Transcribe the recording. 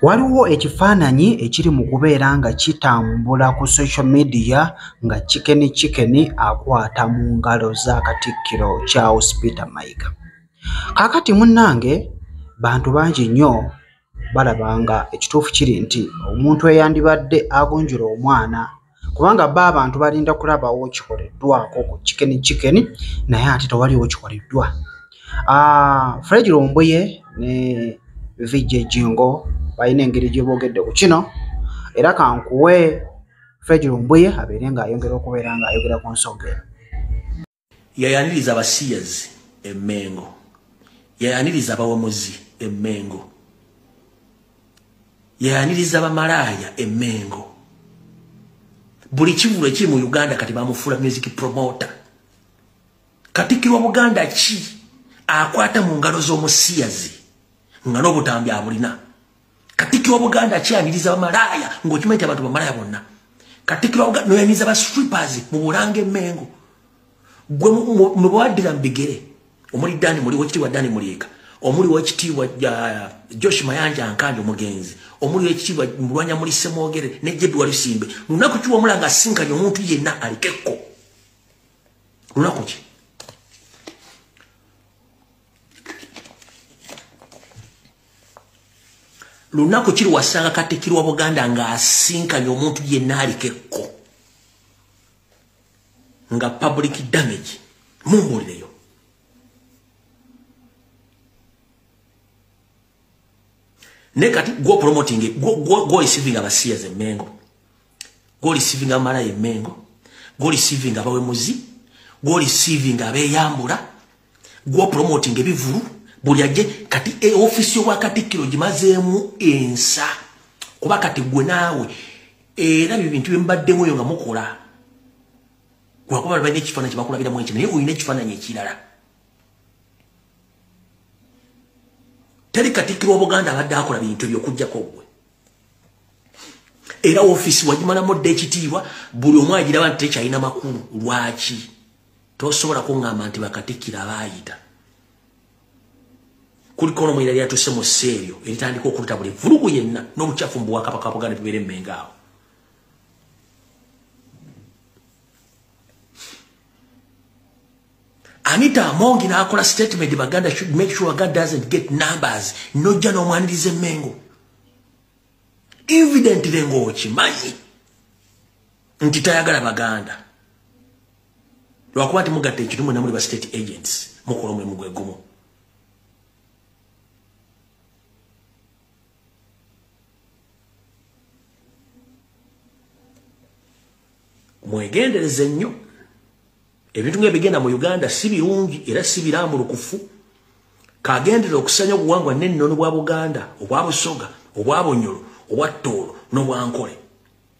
Waliwo ekifaananyi ekiri mu kubeera nga kitambula ku social media nga Chicken Chicken akwata mu ngalo za Katikkiro Charles Peter Mayiga. Kaakati munnange bantu bangi nnyo balaba nga ekituufu kiri nti omuntu eyandibadde agunjula omwana kubanga ba abantu balinda kulabawo kikoleddwako ku kikeni kikeni naye ate tewaliwo kikoleddwa ah, fred lumbuye ne vijj jingo balina engeri gyebogedde ku kino era kankuwe fred lumbuye abeere ngaayongera okubeera ngaayogera ku nsonga eno yayaniriza abasiyazi emengo yayaniriza abawamuzi emengo yayaniriza abamalaaya emengo buli kivulu ekiri mu uganda kati bamufuula music promota katikirwa buganda ki akwata mu ngalo z'omusiyazi nga n'obutambi abulina katikiro wabuganda akyabiriza bamalaaya ngaokimanyi ti abantu bamalaaya bonna katikiro wabuganda noyaniza ba strippers mu bulanga emengo gwe mubwaddira mu bigere omuli dani muli wekitiibwa dani muliika omuli wekitiibwa josh mayanja nkandi omugenzi omuli wekitiibwa mulwanya muli semwogere ne jebi walusimbe lunaku kiwamula nga asinkanye omuntu yenna alikekko lunaku ki lunaku kiri wasanga katikirwa buganda ng'asinkanye omuntu yenna aliko ekko nga public damage mumbulireyo naye kati gwo promoting gwo receiving abasiya ze mengo gwo receiving amala ye mengo gwo receiving abawemuzi gwo receiving abeyambula gwo promoting ebivulu buli aje kati e office wa kati kilo jimazemu ensa kuba kati gwe nawe era bibintu bimbadde moyo nga mukola kwa kuba bali nekifana kibakula bila mwenche naye oyine kifana nye kilala tali kati kilo buganda abadde akola bintu byo kujja ko gwe era office wajimala modde ekitiibwa buli omwajira bantu tekyalina makulu lwaki tosobola kuŋŋamba nti bakatikkiro abaayita kuliko nomwera lyatuse mu ssa eryo eritandika okuluta buli vulugu yenna n'obukyafu mu bwakabaka buganda tubeere emmenga awo anita amongi n'akola statement baganda should make sure god doesn't get numbers nojja n'omwaniriza emmengo evidently ng'okimanyi nti tayagala baganda lwakuba nti mugatta ekintu mwena muli ba state agents mukola omulimu gwe gumu mwegendereze nnyo ebintu nga ebigenda mu uganda si birungi era si birambulukufu kagendera okusanya obuwangwa n'ennono bwa buganda obwa busoga obwa bunyolo obwa ttoolo n'obwankole